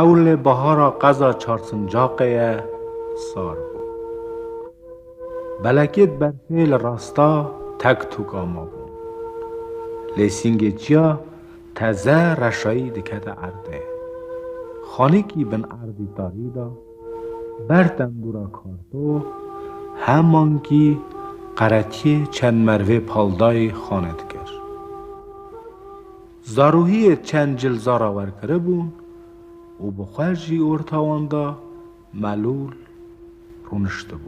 Ewlê bahara qeza Çarsincaqê ye sar bû. Belekêt berfê li rasta tek tûk ama bûn. Lê sîngê çiya teze reşayî dikete erdê. Xanîkî bin erdî tarî da. Ber tembûra karto hemankî qeretiyê çend merivê paldayî xane dikir. Zarohiyê çend cil zara wer kiribûn û bi xwe ji orta wan de melûl rûniştibû.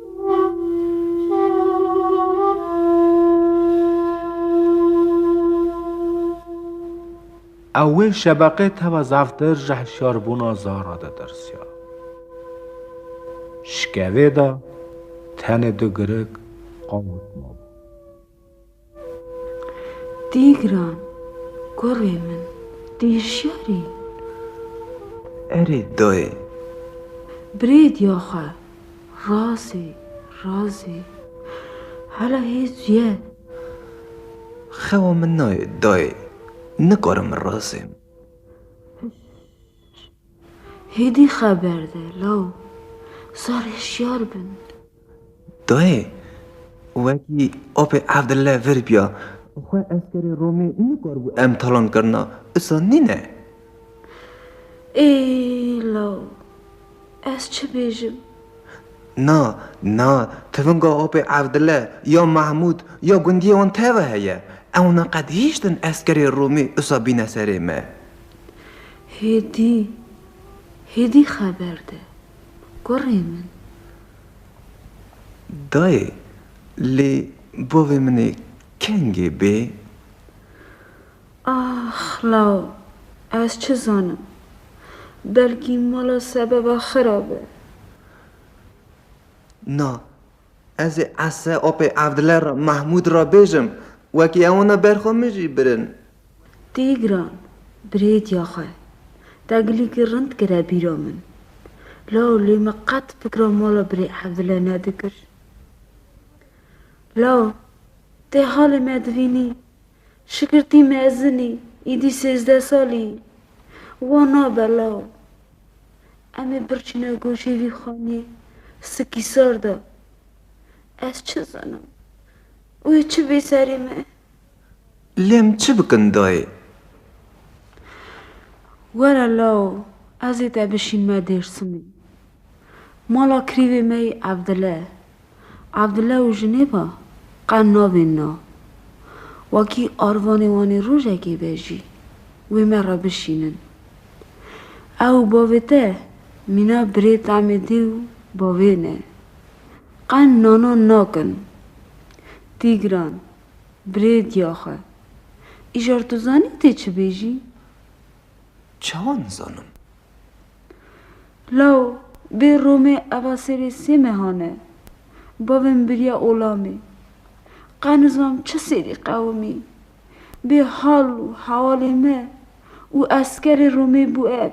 Ew wê şebeqê teva zaftir ji hişyarbûna Zara de tirsiya. Şikevê de tenê du girig qawit mabû. Tîgran, Kurê min, tî şer î? Erê dayê. Brêdya xwe, razê, razê. Hela hêz ye. Xewa min nayê dayê. Nikarim razêm. Hêdî xeber de law sar hişyar bin. Dayê, wekî apê Evdille vir biya, xwe eskerê Romê nikaribû em talan kirina, issa nîne. Êy law, ez çi bêjim? Na, na, tivinga apê Evdille, ya Mehmûd, ya gundiyê wan teve heye. Ewna qet hîştin eskerê Romî issa bîne serê me. Hêdî, hêdî xeber de, kurê min. Dayê, lê bavê min ê kengê bê? Ax law, ez çi zanim, belkî mala sebeba xira be. Na, ez ê ese apê Evdile re, Mehmûd re bêjim, wekî ewina ber xwe min jî birin. Tîgran, Birêtiya xwe, teglîkî rind kire bîra min. Law lê me qet fikra mala Birê Evdile nedikir. Law, tê halê me dibînî. Şikirtî mezin î, îdî sêzdeh salî yî. Wan nabe law. Em ê birçîne goşê vî xanîyê sikîsar de. Ez çi zanim. Wê çi bê serê me. Lê em çi bikin dayê? Were law ez ê te bişînme Dêrsimê. Mala kirîvê me yî Evdile. Evdile û jinê ve qe nabên na. Wekî arvanê wan ê rojekê be jî wê me re bişînin. Ew û bavê te mîna birê temê dê û bavê ne. Qe nana nakin. Tîgran, Birê diyaxe. Îcar tu zanî tê çi bêjî? Çawa nizanim? Law, bê Romê eva serê sê mehan e. Bavê min biriya olamê. Qe nizam çi sêrî qewimî. Bê hal û hewalê me û eskerê Romê bû ev.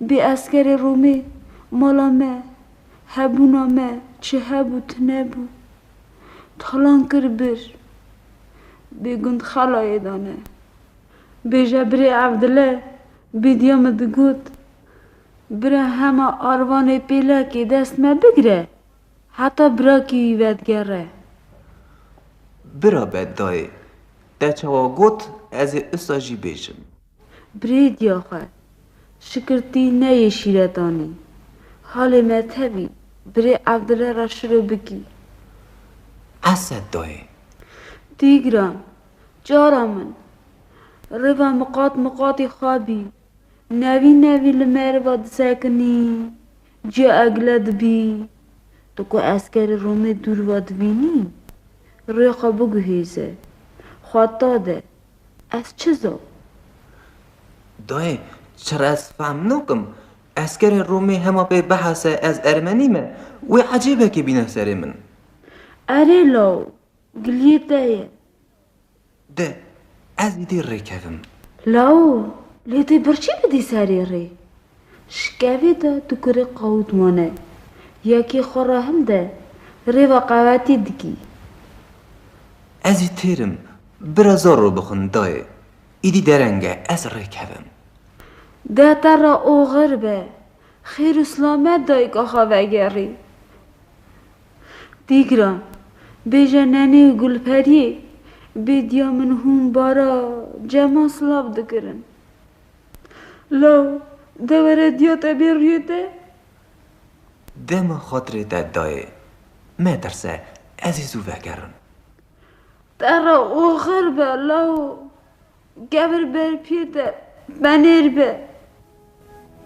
Bê eskerê Romê, mala me, hebûna me çi hebû tune bû. Talan kir bir. Bê gund xelayê dane. Bêje birê Evdile bêdiya min digot, Bira hema arvanê pêlekê dest me bigire, heta birakî wî vedigere. Bira be dayê, te çawa got, ez ê usta jî bêjim. Brêdiya xwe, şikirtî neyê şîretanî. Halê me tevî, birê Evdile ra şiro bikî. Esed dayê. Dîgran, cara min, rêva miqat miqatî xwe bî. Nevî nevî li meriva disekinî, ciya Egile dibî. Tu ku eskerê Romê dûr va dibînî, rê xwe biguhêze, xweta de. Ez çi zo? Dayê, çir ez fehm nakim. Eskerê Romê hema pê bihese ez ermenî me, wê ecêbekê bîne serê min. Erê law, giliyê te ye. De, ez îdî rê kevim. Law, lê tê birçî bidî serê rê? Şikevê de tu kurê qawût mane, yekê xwe re hil de, rêva qewetî dikî. Ez jî têr im, bira zaro bixwin dayê, îdî dereng e, ez rê kevim. Deh te re oxir be, xêr û silamet dayika xwe vegerî. Dîgran, bêje Nenê û Gulperiyê, bêdiya min hûn bara cema silav dikirin. Law, dewere diya te bê rûyê te. Dema xatirê te dayê. Metirse, ez ê zû vegerim. Te re oxir be law. Kevir ber piyê te, penêr be.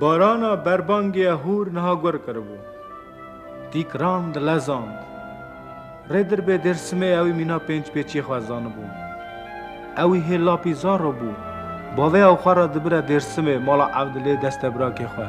Barana berbangê hûr niha gur kiribû. Tîkran dilezand. Rêdirbê Dêrsimê ewî mîna pênc pêçî xwezanibû. Ewî hê lapî zaro bû. Bavê ew xwe re dibire Dêrsimê mala Evdilê destebrakê xwe.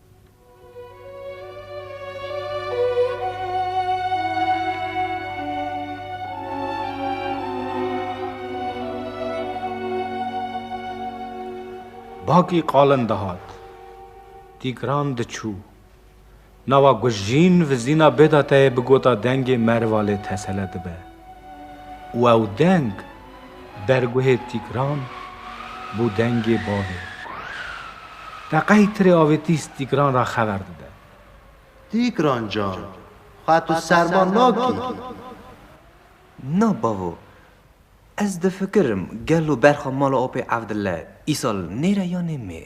Bakî qalin dihat. Tîgran diçû. Nawa Gujîn vizîna bêdateyê bi gota dengê merva lê tesele dibe. Û ew deng Derguhê Tîgran bû dengê bavê. Teqey tirê avêtîs Tîgran ra xever dide. Tîgran can, xwe tu serma nakî? Na bavo, ez difikirim gelo berxa mala Apê Evdile îsal nêre yanê mê.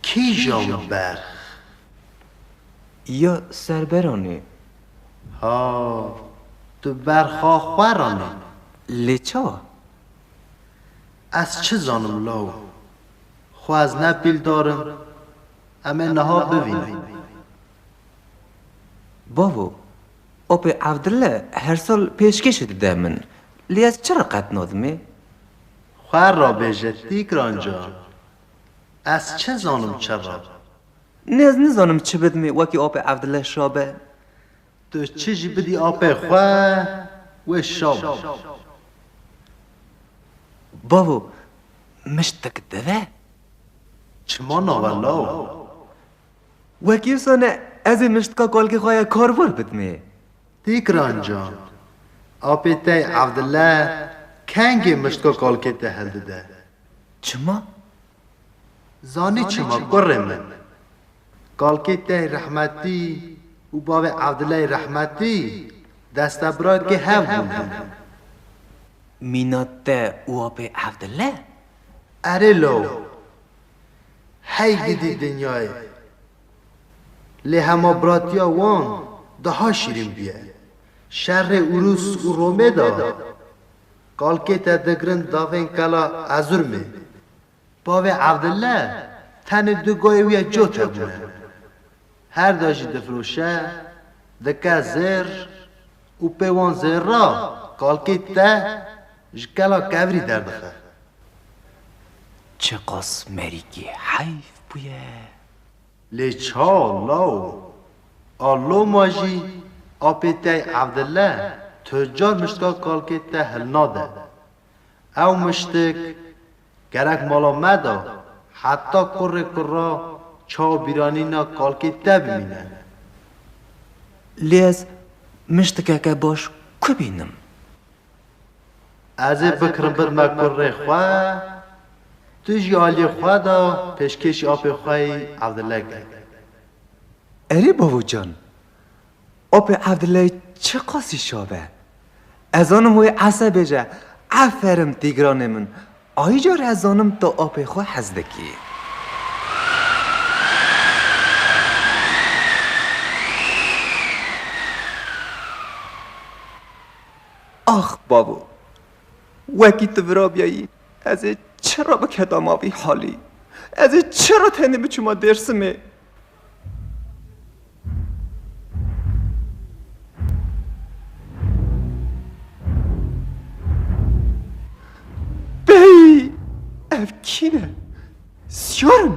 Kîjan berx? Ya Serberanê, Ha, tu berxa xwe ranî. Lê çawa? Ez çi zanim law. Xwe ez ne pîl darim, em ê niha bivînin. Bavo, Apê Evdille her sal pêşkêşê dide min, lê ez çira qet nadim ê? Xwe rabêje Tîkran can, ez çi zanim çira. Nêz nizanim çi bidimê wekî apê Evdile şa be. Tu çi jî bidî apê xwe wê şa bû. Bavo, miştek dive? Çima nawe law? Wekî wisa ne, ez ê miştka kalkê xwe ya karvar bidimê. Tîkran can, apê te Evdile kengê miştka kalkê te hildide. Çima? Zanî çima kurê min. Kalkê te rehmetî û bavê Evdileyê rehmetî destebrakê hev bûne min. Mîna te û apê Evdile? Erê law. Hey gidî dinyayê. Lê hema biratiya wan daha şîrîn bûye. Şerê Urûs û Romê de Kalkê te digirin davên kela Ezurmê. Bavê Evdille tenê du gayê wî ya cot hebûne. Her da jî difiroşe, dike zêr û pê wan zêr ra kalkê te ji kela kevirî derdixe. Çiqas merîkî heyf bûye. Lê çaw lawo. A loma jî apê tey Evdille tucar miştka kalkê te hilnade. Ew miştik gerek mala me de heta kurrê kurra çaw bîranîna kalkê te bimîne. Lê ez miştikeke baş ku bînim? Ez ê bikirimbir me kurrê xwe, tu jî aliyê xwe de pêşkêşî apê xwe yî Evdile kir. Erê babacan, apê Evdile çi qasî şav e. Ez zanim wê ese bêje, Eferim Tîgranê min, ayî car ez zanim tu apê xwe hez dikî. Ax babo! Wekî tu virabiyayî ez ê çira biketa ma vî halî? Ez ê çira tenê biçûma Dêrsimê? Beyî! Ev kî ne? Siyar in?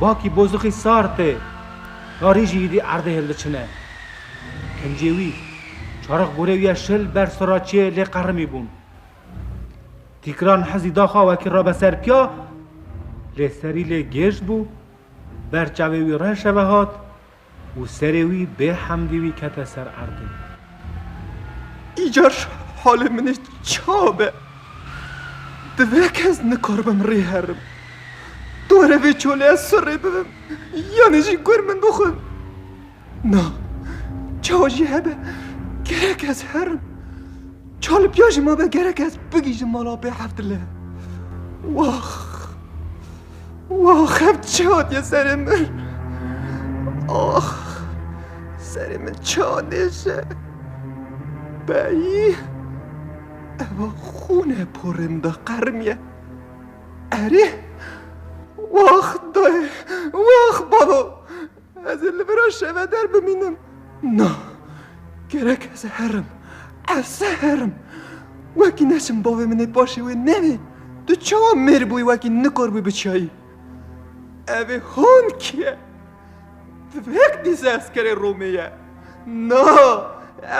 Bakî bozixî sar tê, tarî jî hîdî erdê hêl diçine. Kincê wî, çarix gorê wî ya şil ber siraçiyê lê qerimî bûn. Tîkiran hizî da xwe wekî rabe ser piya, lê serî lê gêj bû, ber çavê wî reşeve hat, û serê wî bê hemdî wî kete ser erdê. Îcar halê min ê ça be? Divê kes nikaribim rê herim. Dore vê çoleya sur rê bibim yanî jî gur min bixwim. Na, çawa jî hebe gerek ez herim. Çalipîya jî mabe gerek ez bigihîjim mala bê hevdile. Wax! Wah xev çi hatiye serê min. Ah serê min çi anêje. Beyî eva xûne porê min de qerimiye. Erê Wah dayê, wah balo. Ez ê li vera şeveder bimînim. Na, gerek ez herim, ez herim. Wekî neçim bavê min ê paşê wê nevê, tu çawa mêr bûyî wekî nikor bûyî biçiyayî. Evê hon kî ye? Tivek dîse eskerê Romê ye. Na,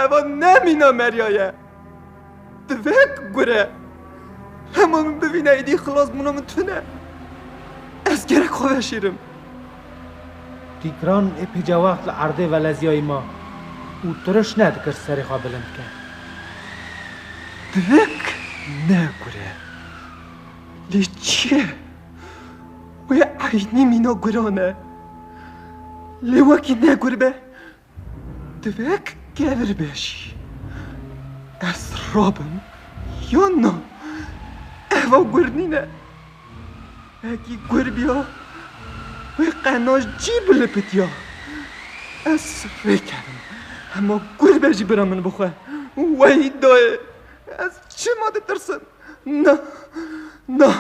eva ne mîna Merya ye. Di vê gure hema min bivîne êdî xilas bûna min tune. Ez gerek xwe veşêrim. Tîkran epîca wext li erdê veleziyayî ma û tiriş nedikir serê xwe bilind ke. Di vê ne gure lê çi ye? Wê eynî mîna guran e. Lê wekî ne gur be Divek kevir be jî ez rabim yan na? Eva gur nîne. Hekî gur biya wê qenaş cî bilipitiya. Ez rê kedim. Hema gur be jî bira min bi xwe weyî dayê. Ez çima ditirsim? Na, na,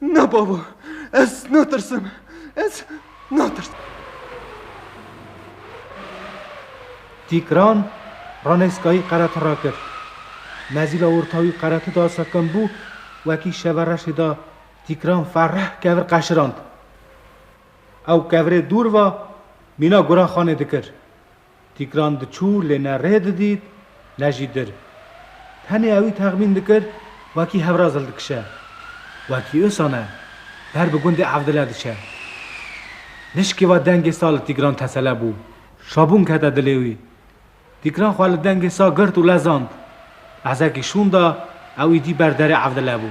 na babo. Ez natirsim. Ez. Natirsim. Tîkran Ranêskayî qereti rakir. Mezîla orta wî qereti da sekin bû, wekî şeva reşê da Tîkran fereh kevir qeşirand. Ew kevirê dûr va mîna Guranxanê dikir. Tîkran diçû lê ne rê didît ne jî dir. Tenê ewî texmîn dikir wekî hevraz hildikişe. Wekî Ösan e. Ber bi gundê Evdile diçe. Nişkê wa dengê sa li Tîkran tesele bû. Şabûn kete dilê wî. Tîkran xwe li dengê sa girt û lezand. Lehzekî şûn da ewî dî ber derê Evdile bû.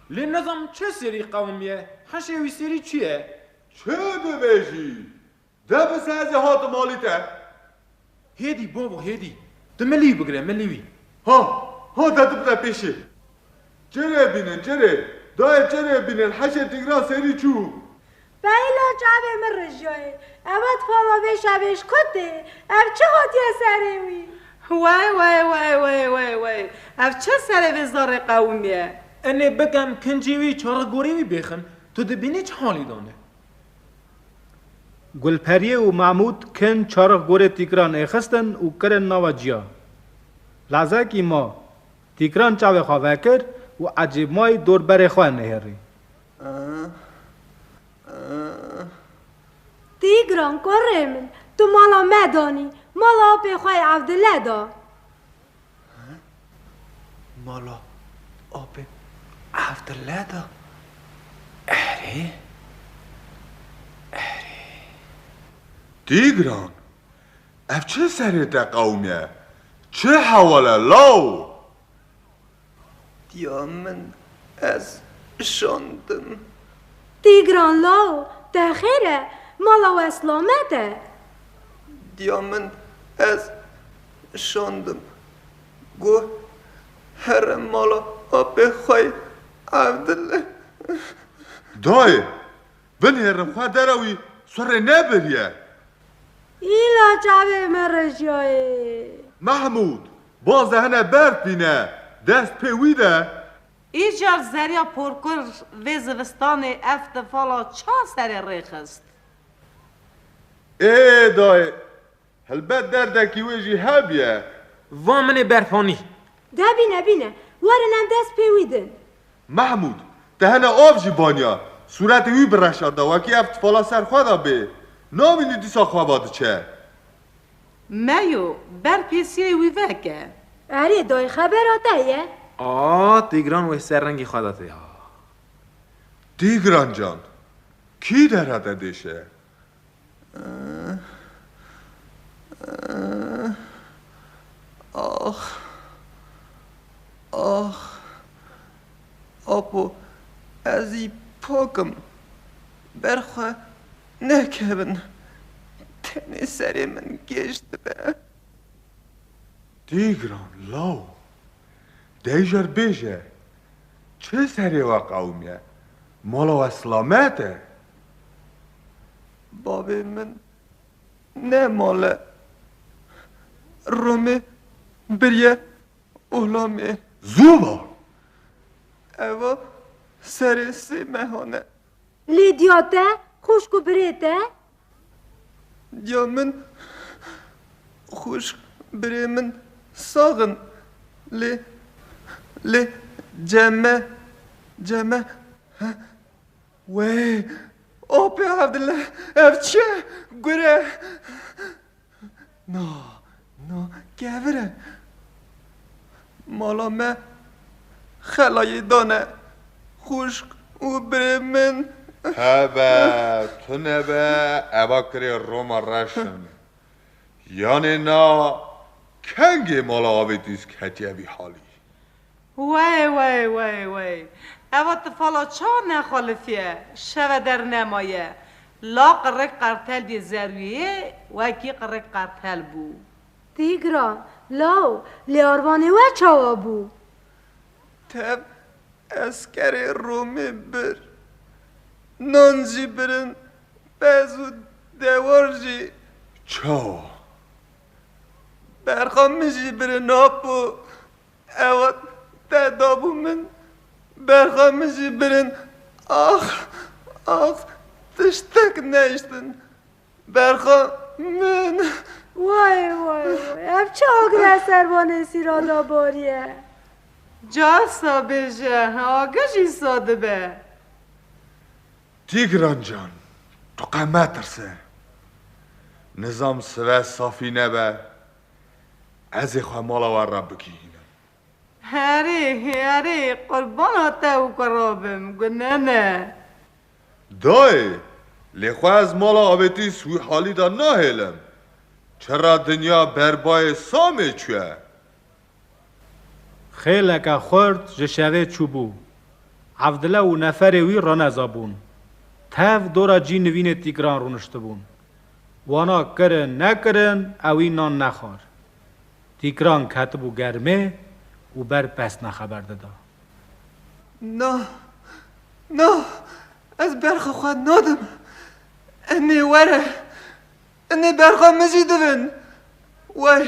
Lê nizanim çi serî qewim ye? Heşê wî serî çi ye? Çi dibêjî? De bi ser zî hatim alî te. Hêdî babo hêdî. Di milî wî bigire, milî wî. Ha, ha de dibire pêşê. Çirê bînin, çirê. Dayê çirê bînin, heşê Tigran serî çû. Beyla çavê min rijiyayê. Ewe difama vê şevê ji xwe tê. Ev çi hatiye serê wî? Wey wey wey wey wey wey. Ev çi serê vê zarê qewimî ye? Enê bikem kincî wî çarek gorî wî bêxin. Tu dibînî çi halî dane. Gulperiyê û Mahmûd kin çarek gorê tîkiran ê xistin û kirin nava ciya. Lazekî ma tîkiran çavê xwe vekir û ecêbmayî dor berê xwe nêhêrî. Tîgran kurê min, tu mala me danî, mala apê xwe yê Evdile da. Mala apê Evdile da? Erê, erê. Tîgran, ev çi serê te qewimîye, çi hewal e law? Tiya min ez şandim. Tîgran law, te xêr e, mala we selamet e. Diya min ez şandim. Goh here mala apê xwe ye, Evdil. Dayê, Binêrin xwe dere wî surê nebiriye. Îla çavê me rejiyayê. Mehmûd, baze hene berf bîne, dest pê wî de. Îcar zerya porkur vê zivistanê ev tifala ça serê rê xist? Ê dayê, Helbet derdekî wê jî hebye. Va min ê berxanî. De bîne bîne. Werin em dest pê wî din. Mehmûd, tehene av jî baniya. Sûretê wî bi reşanda wekî ev tifala ser xwe de bê. Nabînî dîsa xweba diçe. Meyo, ber pêsiyeyê wî veke. Erê dayî xebera te ye? A, Tîgran wê ser rengî xwe de tê ha. Tîgran can, kî dere te dêşe? Ax! Ax! Apo ez î pak im. Ber xwe nekevin. Tenê serê min gêj dibe. Tîgran law! Dejr bêje, çi serê we qewimiye? Mala we silamet e? Bavê min ne male Romê biriye Ohlamê. Zû va! Eva serê sê mehan e. Lê diya te, xûşk û birê te? Diya min, xûşk, birê min sax in. Lê, lê ceme, ceme, he, Wey! Opê Evdile! Ev çi ye? Gure! Na, na kevir e. Mala me xelayê dane xwişk û birê min. Tebe, tunebe eva kirê Roma reş in. Yanê na kengê mala avêtîs ketiye vî halî. Wey wey wey wey. Eva tifala ça nexwelifiye, şeve der nemaye. La qirrek qertelbiyê zerwiyê wekî qirrek qertel bû. Dî giran, law, lê arvanê we çawa bû? Tev eskerê Romê bir. Nan jî birin, pez û dewar jî. Çawa? Berxa min jî birinapo Ewa te dabû min berxa min jî birin ax ax tiştek nehiştin berxa min. Way way way ev çi agre servanê sîra da bariye. Caf sa bêje agir jî sa dibe. Tîgran can tu qe metirse. Nizam sive safî nebe. Ez ê xwe mala wan re bigihînim. Herî, herî, qurbana te û kura bim, gu nene. Dayê, lê xwe ez mala avêtî Swîhalî de nahêlim. Çira dinya ber bayê Samê çûye. Xêleke xurt ji şevê çûbû. Evdile û neferê wî reneza bûn. Tev dora cî nivînê tîgran rûniştibûn. Wana kirin nekirin ewî nan nexwar. Tîgran ketibû germê û ber pesna xeber dida. Na, na, ez berxa xwe nadim. Enê were. Enê berxa min jî dibin. Way!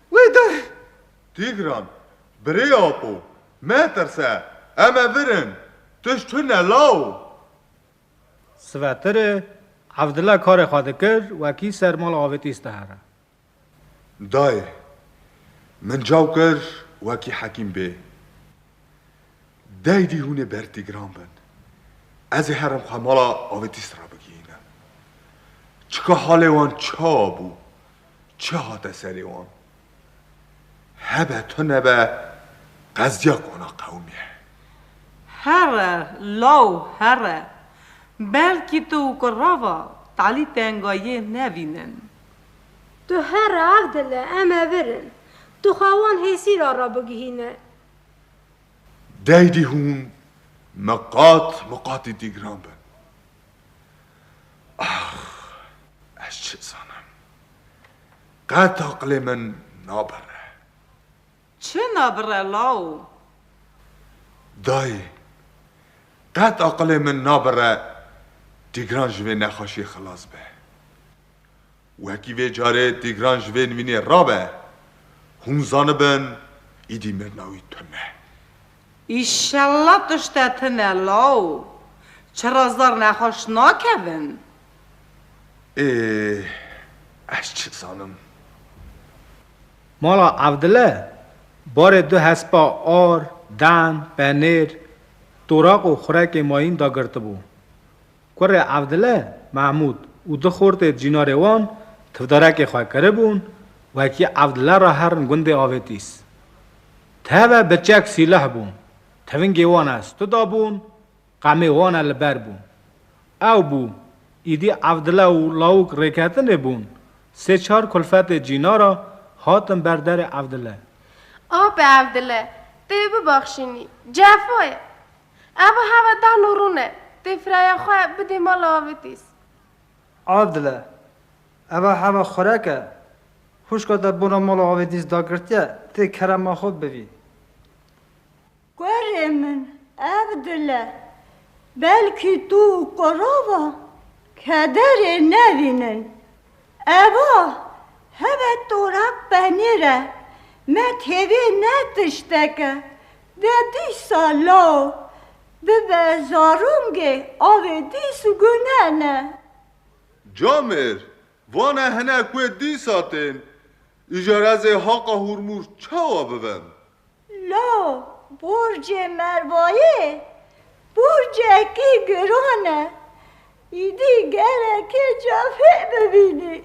Wê der! Tîgran, Birê Apo, metirse, em e vir in, tişt tune law! Sivetiri, Evdile karê xwe dikir, wekî ser mala avêtî stehera. Dayê, min caw kir wekî hekîm bê. Deydî hûnê ber Tîgran bin. Ez ê herim xwe mala avêtî sira bigihînim. Çika halê wan çawa bû, Çi hate serê wan? Hebe tu nebe qezdiya kona qewimî ye. Here law here. Belkî tu û kurava Talî tenga yê nevînin. Tu here ev dile em e vir in. Tu xwe wan hêsîra re bigihîne. Deydî hûn miqat miqatî dîgran bin. Ax! Ez çi zanim. Qet aqilê min nabire. Çi nabire law? Dayê, qet aqilê min nabire Tîgran ji vê nexweşiyê xilas be. Wekî vê carê Tîgran ji vê nivînê rabe, hûn zanibin îdî mirina wî tune. Îşella tişte tune law, çira zar nexweş nakevin. Ê, ez çi zanim. Mala Evdile, barê du hespa ar, dan, penêr, toraq û xurekê mayîn dagirtibû. Kurê Evdile Mehmûd û du xortê cînarê wan tivdarekê xwe kiribûn wekî Evdile re herin gundê Avêtîs. Teve biçek sîleh bûn, tevingê wan e stu dabûn, qemê wan e li ber bûn. Ew bû, îdî Evdile û lawik rêketinê bûn, sê çar kulfetê cînara hatin ber derê Evdile. Ape Evdile, tu yê bibexşînî, cefa ye. Eva heve dan û rûn e. Tê firaya xwe bidê mala Avêtîs. Avdile, Eva heve xurek e. Xwişka te bona mala Avêtîs dagirtiye, tê kerema xwe bivî. Kurê min Avdile, belkî tu û Korova kederê nevînin. Eva, Heve torak penîr e. Me têvê ne tişteke. De dîsa law bibe zarûngê avê dîs û gunene. Camêr, Vane hinek wê dîsa tên. Îja rezê haqa hûrmûr çawa bibem? La borcê Mervayê borcekî giran e. Îdî gereke ca fê bibînî.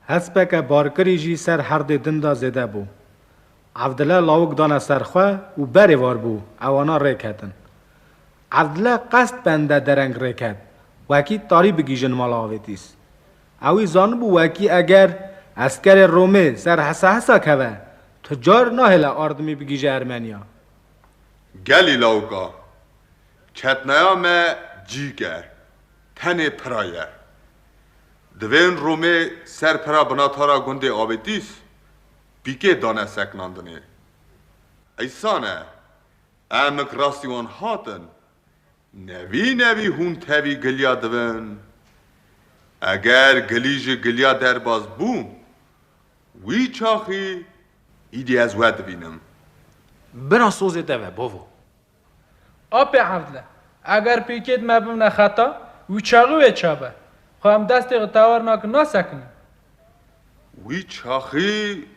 Hespeke barkirî jî ser herdê din de zêde bû. Evdile lawik dana ser xwe û berê war bû ewana rê ketin. Evdile qest bende dereng rê ket wekî tarî bigîjin mala Avêtîs. Ewî zanibû wekî eger eskerê Romê ser hesa hesa keve, tu car nahêle ardimî bigîje Ermeniya. Gelî lawika, ketneya me cîk e, tenê pira ye. Divên Romê ser pira binatara gundê Abetîs pîkê dane seknandinê. Eysan e, emik rastî wan hatin, Nevî nevî hûn tevî giliya dibin. Eger gilî ji giliya derbas bû, wî çaxî îdî ez we dibînim. Bira sozê te ve bavo. Apê Evdle, eger pêkêt me bimne xeta, wî çaxî wê çabe. Xwe em destê xwe tewar nakin nasekinin. Wî çaxî,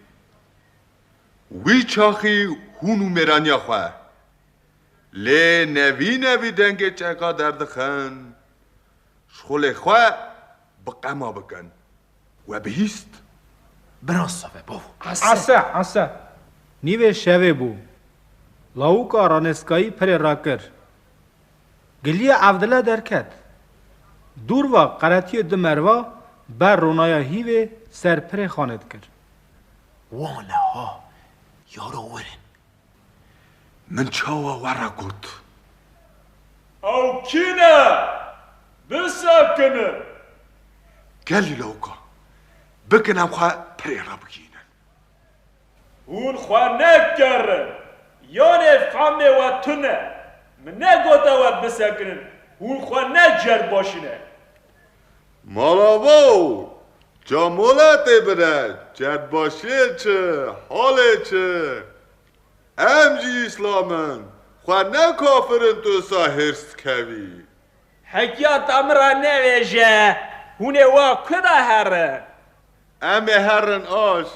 wî çaxî hûn û mêraniya xwe Lê nevî nevî dengê çeka derdixin, ji xulê xwe bi qema bikin. We bihîst. Biraz save bo. Ese, ese. Nîvê şevê bû. Lawika ranêskayî pirê rakir. Giliya evdile derket. Dûrva qeretiyê du merva ber ronaya hîvê ser pirê xanê dikir. Wan e ha, yaro wir in. Min çawa we re got. Ew kî ne? Bisekinin! Gelî lewka! Bikin em xwe pirê re bigihînin. Hûn xwe nekerin! Yanê fehmê we tune e. Min negote we bisekinin, hûn xwe neceribajîne. Merhaba û ca moletê bide çetbaşiyê çi halê çi em jî îslam in xwe ne kafir in tu sa hêrs dikevî. Hekiya ta min ra nevêje hûn ê wa ku de herin. Em ê herin aş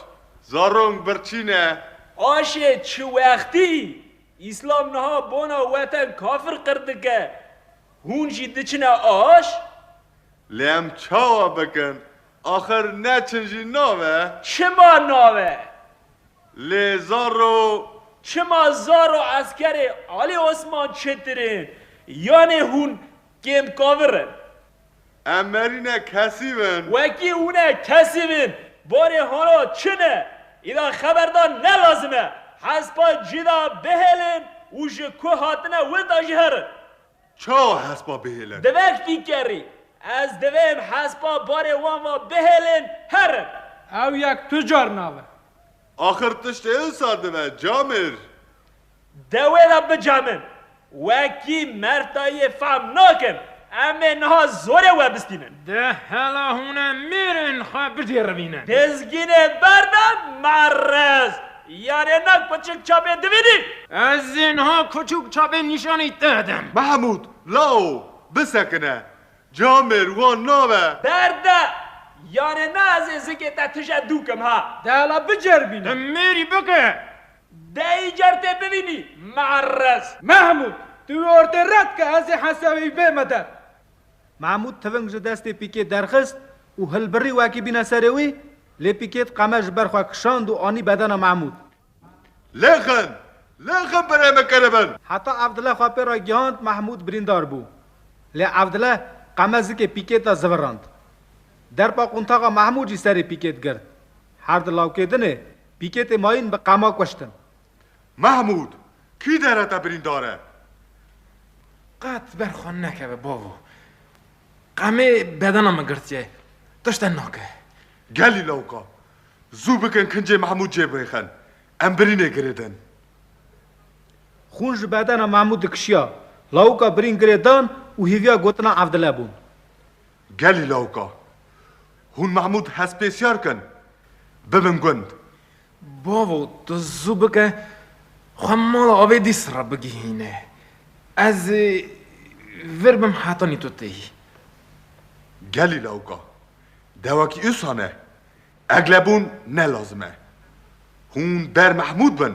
zarong birçîne. Aşê çi wextî? Îslam niha bona we te kafir qir dike. Hûn jî diçine aş? Lê em çawa bikin? Axir neçin jî nabe? Çima nabe? Lê zaro. Çima zaro eskerê Alî Osman çêtir in? Yanê hûn kêm kavir in? Em merîne kesî bin. Wekî hûn e kesî bin. Barê hona çin e. Îra xeberdan ne lazim e. Hespa cîda bihêlin û ji ku hatine wita jî herin. Çawa hespa bihêlin? Divek tî kerî. Ez divêm hespa barê wan va bihêlin herin. Ew yek tu car navin. Axir tiştê wisa dibe Camêr. Dewê re bica min. Wekî mertayê fehm nakin. Em ê niha zorê we bistînin. Di hela hûne mêrên xwe bicêrivîne. Dizginê ber be merrez. Yarê na kuçik çapê dibînî. Ez ê niha kuçik çapê nîşanî te din. Mehmûd, Lao, bisekine. Ca mêr wan nabe. Ber de. Yarê na ez ê zikê te tije dûkim ha. Dela bicêrivîne. Di mêrî bike. Dayî car tê bivînî me'errez. Mehmûd, tu wî ortê ret ke ez ê hesewî bême der. Mehmûd tiving ji destê Pîkê derxist û hilbirî wekî bîne serê wî, lê Pîkê di qeme ji ber xwe kişand û anî bedena Mehmûd. Lê xin, lê xin berê min kir bin. Heta Evdile xwe pê re gihand Mehmûd birîndar bû. Lê Evdile qeme zikê Pîkê de zivirand. Derpa quntaxa Mehmûd jî serê Pîkê digirt. Her di lawkêdinê pîkêtê mayîn bi qema kuştin. Mehmûd, kî dere te birîndar e? Qet ber xwe nekeve bavo. Qemê bedena min girtiye. Tişte nake. Gelî lawka. Zû bikin kincê Mehmûd cê bixin. Em birînê girêdin. Xûn ji bedena Mehmûd dikişiya. Lawka birîn girêdan û hêviya gotina Evdile bûn. Gelî lawka. Hûn Mehmûd hespêsyar kin. Bibin gund. Bavo, tu zû bike xwe mala Abêdîs re bigihîne. Ez ê vir bim hetanî tu tê yî. Gelî lawka. Dewekî usa ne. Eglebûn ne lazim e. Hûn ber Mehmûd bin,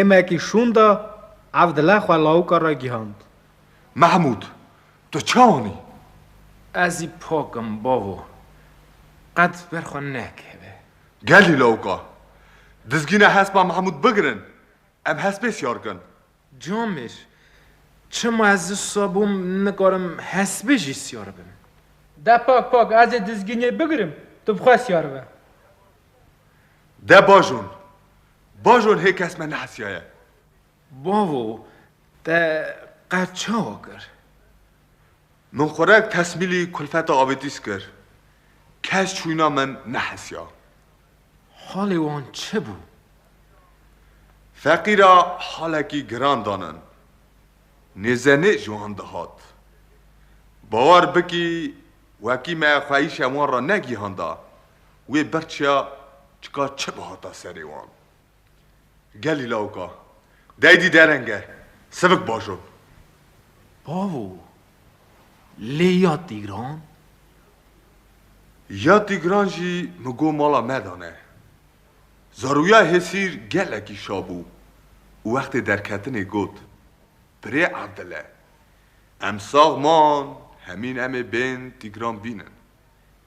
Êmekî şûnda ev dile xwe lawika re gihand. Mehmûd, tu çi anî? Ez zî pak im bavo. Qet ber xwe nekeve. Gelî lawika. Dizgîna hespa Mehmûd bigirin. Em hespê siyar kin. Camir, Çima ez wisa bûm nikarim hespê jî siyar bim. De pak pak ez ê dizginê bigirim tu bi xwe siyar be. De Bajon, Bajon hê kes me nehesiyaye. Bavo, te qet çawa kir? Min xurek tesmîlî kulfeta avêtîs kir. Kes çûyîna min nehesiya. Halê wan çi bû? Feqîra halekî giran danin. Nêzenê ji wan dihat. Bawer bikî wekî me xweyîşe wan re negihanda. Wê birçiya çika çi bihata serê wan. Gelî lawika deydî dereng e, sivik baş o. Bavo, lê ya Tîgran? Ya Tîgran jî min got mala me de ne. Zarûya Hêsîr gelekî şa bû û wextê derketinê got, Pirê Evdile, em sax man hemîn em ê bên Tîgran bînin.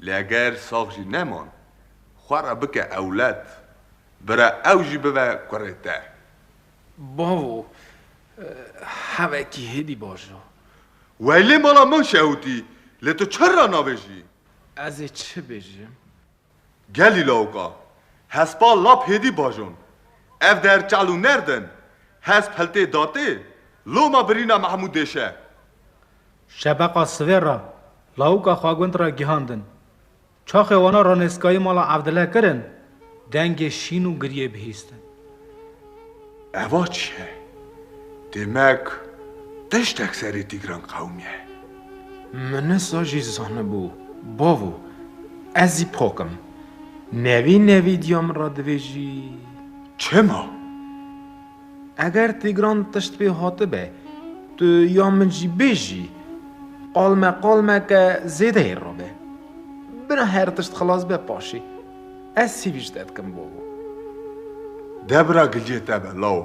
Lê eger sax jî neman, xwe re bike ewled, bira ew jî bibe kurê te. Bavo, hevekî hêdî baş da. Weylê mala min şehûtî, lê tu çi re nabêjî? Ez ê çi bêjim? Gelî lawika, hespa lap hêdî bajon. Ev der çal û nerd in, hesp hiltê datê, loma birîna Mehmûdê şe. Şebeqa sivê re lawika xwegund re gihandin. Çaxê wana ranêskayî mala Evdile kirin, dengê şîn û giriyê bihîstin. Eva çi ye? Demek tiştek serê Tîgran qewimiye. Minisa jî zanibû bavo, ez jî pak im. Nevî nevî diya min re divêjî. Çima? Eger Tîgran tişt pê hatibe, tu ya min jî bêjî. Qalme qalmeke zêdeyê rabe. Bira her tişt xilas be paşê. Ez sivî ji te dikim babo. Debra giliyê te be law.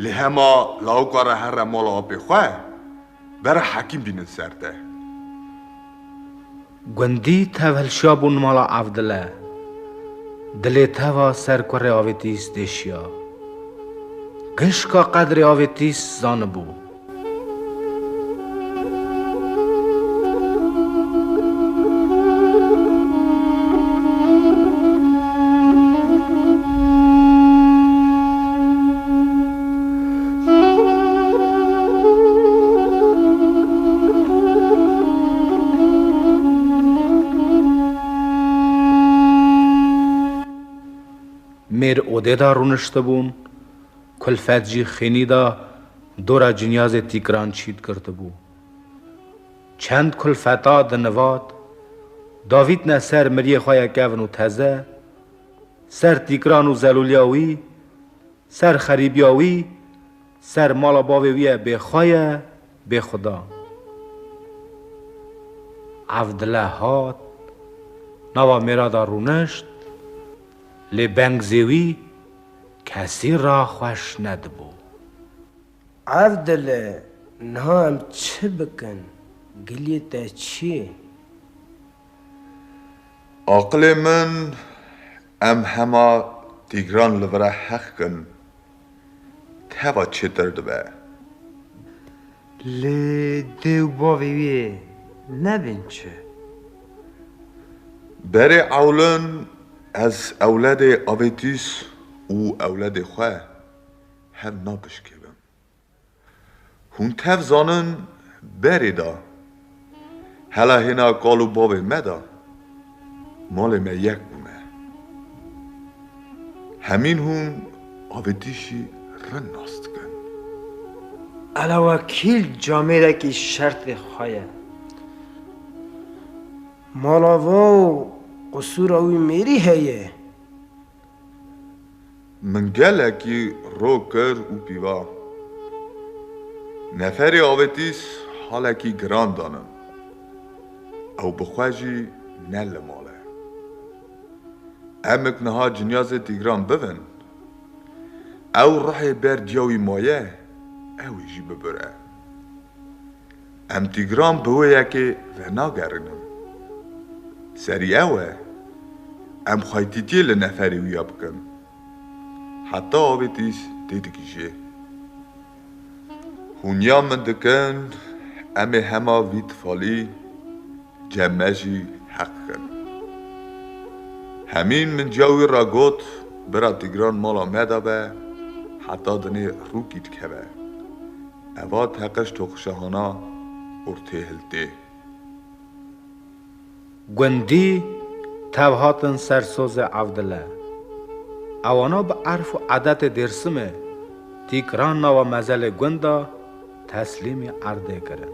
Lê hema lawika re here mala apê xwe. Bera Hekîm bînin ser te. Gundî tev hilşiya bûn mala Evdile. Dilê teva ser kurê Avêtîs têşiya. Gişka qedrê Avêtîs zanibû. Mêr odê da rûniştibûn, kulfet jî xênî da dora cinyazê tîkiran çît girtibû. Çend kulfeta di nivat davîtne ser miriyê xwe ye kevn û teze, ser tîkiran û zelûliya wî Ser xerîbiya wî, ser mala bavê wî ye bêxwe ye, bêxweda. Ev dile hat, nava Mêrada rûnişt, lê bengzê wî kesî ra xweş nedibû. Ev dile, niha em çi bikin, giliyê te çi ye? Aqilê min em hema tîgran li vira heqkin teva çêtir dibe. Lê dê û bavê wî yê nebin çi? Berê ewlin ez ewledê avêtîs û ewledê xwe hev napişkêbim. Hûn tev zanin berê de hela hêna kal û bavê me de malê me yek bûne. Hemîn hûn avêtîşî rind nas dikin. Elewakîl camêrekî şertê xwe ye. Mala vo û qisûra wî mêrî heye. Min gelekî ro kir û pîva. Neferê avêtîs halekî giran danim. Ew bi xwe jî ne li mal e. Emik niha cinya zê tîgran bibin. Ew ruhê ber ciya wî maye, ew ê jî bibire. Em Tîgran bi wê yekê ve nagerînin. Serî ew e, em xaytîtiyê li neferê wî ya bikin. Heta avêtîs tê digihîjê. Hûn ya min dikin, em ê hema vî tifalî cem me jî heq bikin. Hemîn min ca wî re got, Bira Tîgran mala me de be, heta dinê rûkî dikeve. Eva teqe ji toqişehana ortê hiltê. Gundî tev hatin ser sozê Evdile. Ewana bi erf û edetê Dêrsimê tîk ran nawa mezelê gunda teslîmî erdê kirin.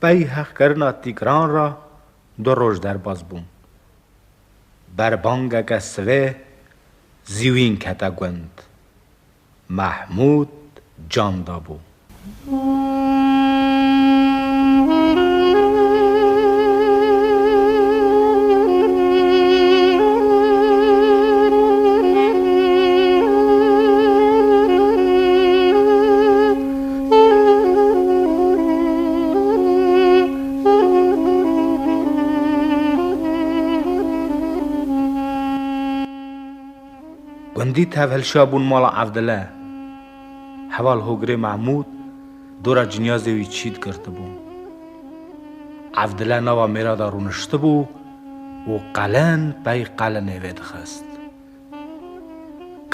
Pey heqkirina tîgran re du roj derbas bûn. Berbangeke sibê zîwîn kete gund. Mehmûd can dabû. Gundî tevhilşa bûn mala Evdile. Heval Hogirê Mehmûd dora cinyazê wî çît girtibû. Evdile nava mêra de rûniştibû û qelin pey qelinê vê dixist.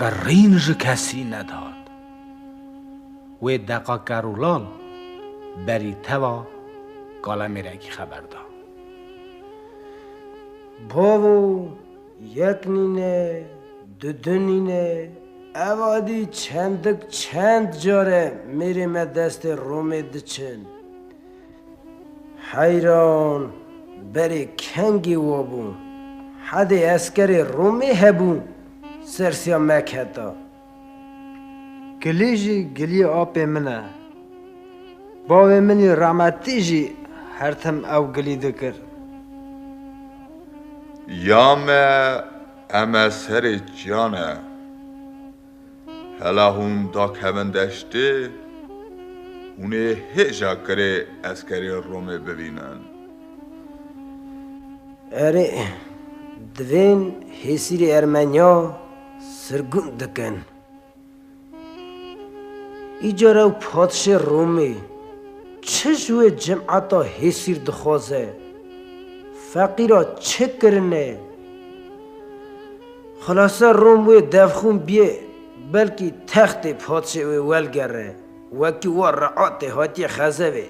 Qirîn ji kesî nedat. Wê deqa Kerûlal berî teva Kalemêrekî xeber da. Bavo, yek nîne, du du nîne, evadî çendik çend care mêrê me destê Romê diçin. Heyran, berê kengê wa bû. Hedê eskerê Romê hebû sersiya mek heta. Gilî jî gilîyê apê min e. Bavê min î rahmetî jî her tim ew gilî dikir. Ya me eme serê çiyane. Hela hûn dakevin deştê, hûn ê hêja kirê eskerê Romê bivînin. Erê, divên hêsîrê Ermenya sirgûn dikin. Îcar ew padişê Romê çi ji wê cemata hêsîr dixwaze? Feqîra çi kirine? Xulase Rom wê devxûn biyê, belkî textê padsê wê welgere, wekî wa reatê hatiye xezevê.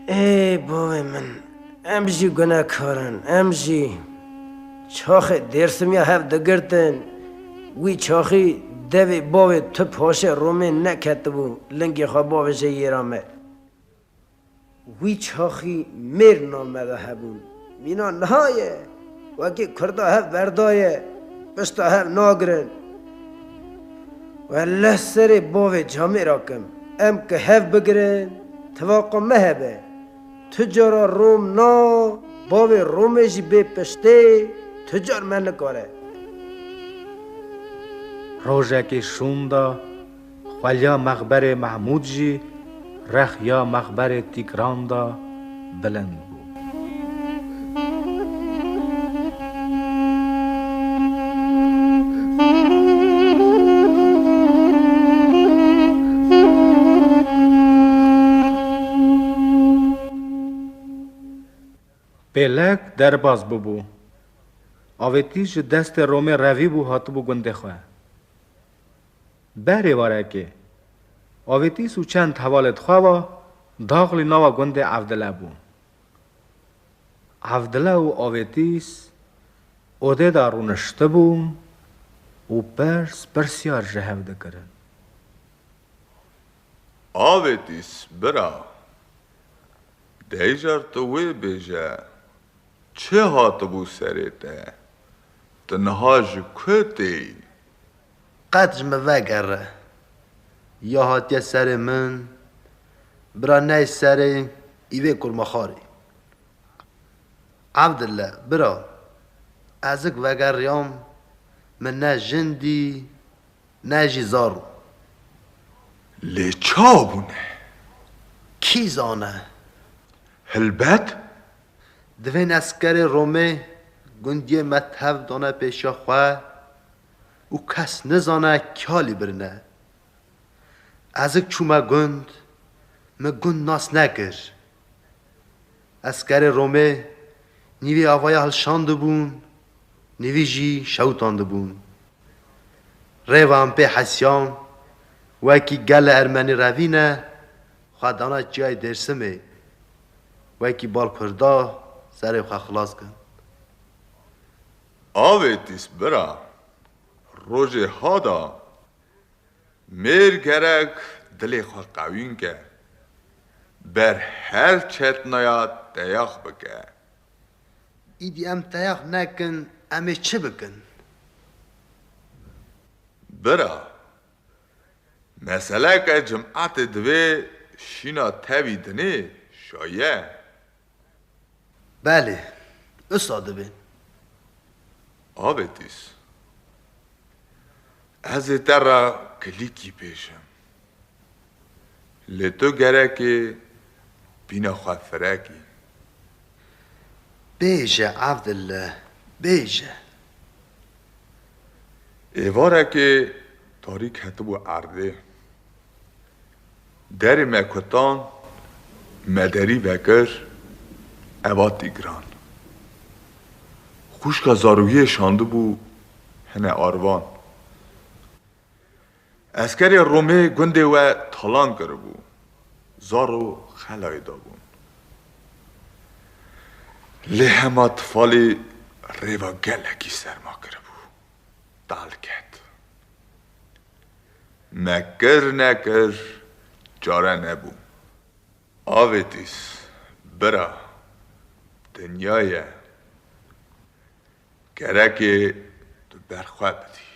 Ê bavê min, em jî gunekar in, em jî çaxê Dêrsimiya hev digirtin, wî çaxî devê bavê tu paşê Romê neketibû, lingê xwe bavêje yêra me. Wî çaxî mêrna me ve hebûn. Mîna niha ye. Wekî kurda hev berdaye, pişta hev nagirin. Welleh serê bavê camê ra kim. Em ki hev bigirin, tivaqa me hebe. Tu cara rom na, bavê romê jî bê piştê, tu car me nikare. Rojekê şûnda. Xwelya mexberê Mehmûd jî rex ya mexberê Tîgran de bilind bû. Pêlek derbas bûbû. Avêtî ji destê Romê revîbû hatibû gundê xwe. Beh rêvarekê. Avêtîs û çend hevalê di xwe ve, daxilî nava gundê Evdile bû. Evdile û Avêtîs odê de rûniştibûn û pirs pirsyar ji hev dikirin. Avêtîs, Bira, deycar tu wê bêje, çi hatibû serê te? Tu niha ji ku tê yî? Qet ji min vegere. Ya hatiye serê min. Bira ney serê îvê kurmexarî. Evdille, bira, ezik vegeriyam, min ne jin dî, ne jî zaro. Lê ça bûne? Kî zane? Hilbet. Divên eskerê Romê gundiyê me tev dane pêşiya xwe. û kes nizane kîa lî birine. Ezik çûme gund, min gund nas nekir. Eskerê Romê nîvî avaya hilşandibûn, nîvî jî şewitandibûn. Rêva em pê hesyan, wekî gele ermenî revîne, xwe dana çiyayê Dêrsimê, wekî bal kurda serê xwe xilas kin. Avêtîs bira, rojê ha da, mêr gerek dilê xwe qewî nke, ber her çetnaya teyax bike. Îdî em teyax nekin, em ê çi bikin? Bira, meseleke cimetê divê şîna tevî dinê şaye. Belê, wisa dibe. Avêtîs, ez ê te re kilîkî pêşim. Lê tu gerekê bîna xwe firek î. Bêje Evdille, bêje. Êvarekê tarîk hetibû erdê. Derê me kutan, me derî vekir, ev hat dîgran. Xwişka zarokiyê şandibû hine arvan. Eskerê Romê gundê we talan kiribû, zaro xelayê dabûn. Lê hema tifalê rêva gelekî serma kiribû, dal ket. Nekir nekir çare nebû. Avêtîs, bira, dinya ye. Gerekê tu ber xwe bidî.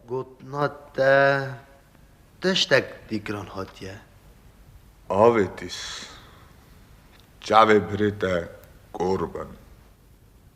Gotina te tiştek dîkiran hatiye. Avêtîs, çavê birê te kor bin.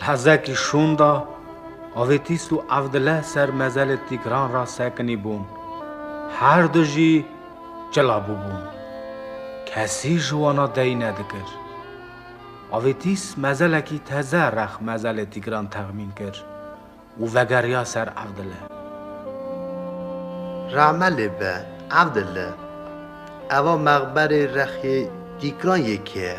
Li hezekî şûn de Avêtîs û Evdileh ser mezelê Tîgran re sekinî bûn. Her du jî cila bûbûn. Kesî ji wana deyî nedikir. Avêtîs mezelekî teze rex mezelê Tîgran texmîn kir û vegeriya ser Evdileh. Rahme lê be Evdileh, eva mexberê rexê Tîgran yê kê ye?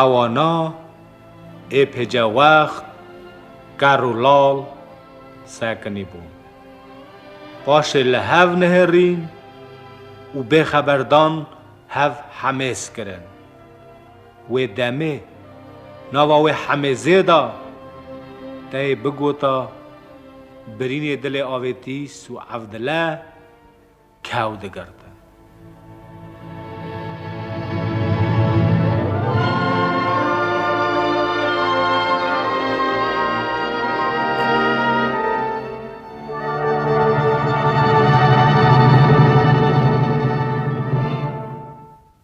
Ewana êpêcewext ker û lal sekinî bûn. Paşê li hev nihêrîn û bêxeberdan hev hemêz kirin. Wê demê nava wê Hemê Zêd a. Teyê bigota birînê dilê Avêtîs û Evdile kew digirtin.